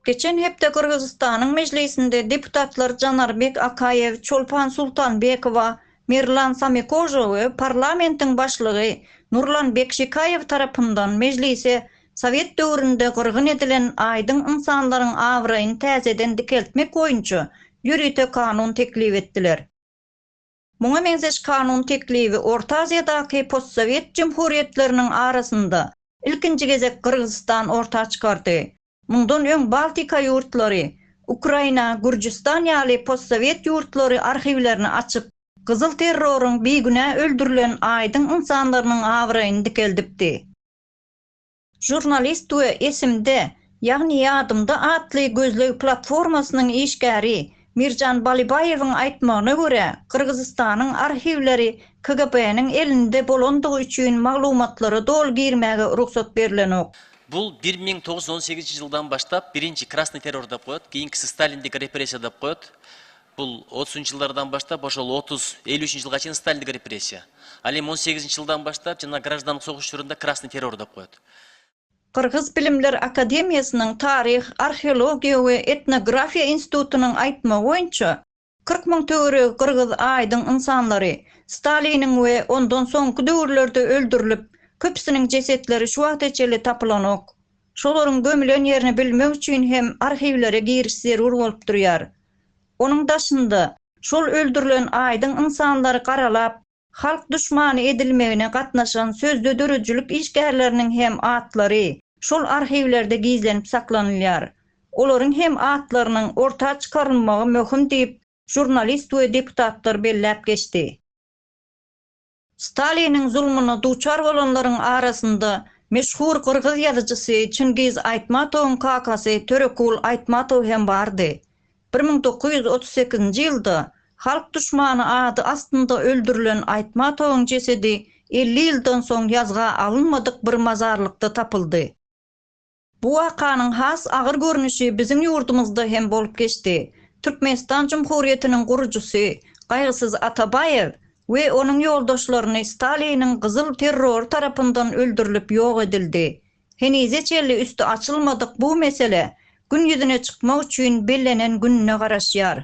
Geçen hepde Gyrgyzystanyň Mejlisinde deputatlar Janarbek Akaýew, Çolpan Sultanbekowa, Merlan Samekožo we parlamentiň başlygy Nurlan Bekşikaýew tarapyndan Mejlise sowet döwründe gyrgyn edilen aýdyň ynsanlaryň abraýyny täzeden dikeltmek boýunça ýörite kanun teklip etdiler. Muňa meňzeş kanun teklibi Orta Aziýadaky postsowet jumhuriýetleriniň arasynda ilkinji gezek Gyrgyzystan orta çykardy. Mundan öň Baltika ýurtlary, Ukraina, Gürjüstan ýaly postsowet ýurtlary arhiwlerini açyp, gyzyl terroryň bigünä öldürilen aýdyň ynsanlarynyň abraýyny dikeldipdi. Žurnalist we Esimde, ýagny ýadymda atly gözleg platformasynyň işgäri Mirjan Balybaýewiň aýtmagyna görä, Gyrgyzystanyň arhiwleri KGB-niň elinde bolandygy üçin maglumatlara doly girmäge rugsat berilenok. Bu bir müň togus ýüz on sekizinji ýyldan başlap birinji krasny terrordapgoýt, keýinkisi stalindik repressiýadapgoýt Bul otuz üçinji ýyllardan başlap oşo otuz elli üçinji ýylga çenli stalinlik repressiýa. Al em on sekizinji ýyldan başlap jana graždanlyk soguş çorunda krasnyý terror dep goýat. Gyrgyz bilimler akademiýasynyň taryh, arheologiýa we etnografiýa institutynyň aýtmagy boýunça kyrk müň töweregi gyrgyz aýdyň ynsanlary staliniň we ondan soňky döwürlerde öldürilip köpüsiniň jesetleri şu wagta çeli tapylanok. Şolaryň gömülen ýerini bilmek üçin hem arhiwlere giriş zerur bolup durýar. Onuň daşynda, şol öldürilen aýdyň ynsanlary garalap, halk duşmany edilmegine gatnaşan sözde döredijilik işgärleriniň hem atlary şol arhiwlerde gizlenip saklanylýar. Olaryň hem atlarynyň orta çykarylmagy möhüm diýip, žurnalist we deputatlar belläp geçdi. Staliniň zulmuna duçar bolanlaryň arasynda meşhur gyrgyz ýazyjysy Çingiz Aýtmatowyň kakasy Törekul Aýtmatow hem bardy. Bir müň dokuz ýüz otuz sekizinji ýylda Halk duşmany ady astynda öldürilen Aýtmatowyň jesedi elli ýyldan soň ýazga alynmadyk bir mazarlykda tapyldy. Bu wakanyň has agyr görnüşi biziň ýurdumyzda hem bolup geçdi. Türkmenistan Jumhuriýetiniň gurujysy Gaýgysyz Atabaýew we onuň ýoldaşlaryny Staliniň gyzyl terrory tarapyndan öldürilip ýok edildi. Henize çenli üsti açylmadyk bu mesele gün ýüzüne çykmak üçin bellenen gününe garaşýar.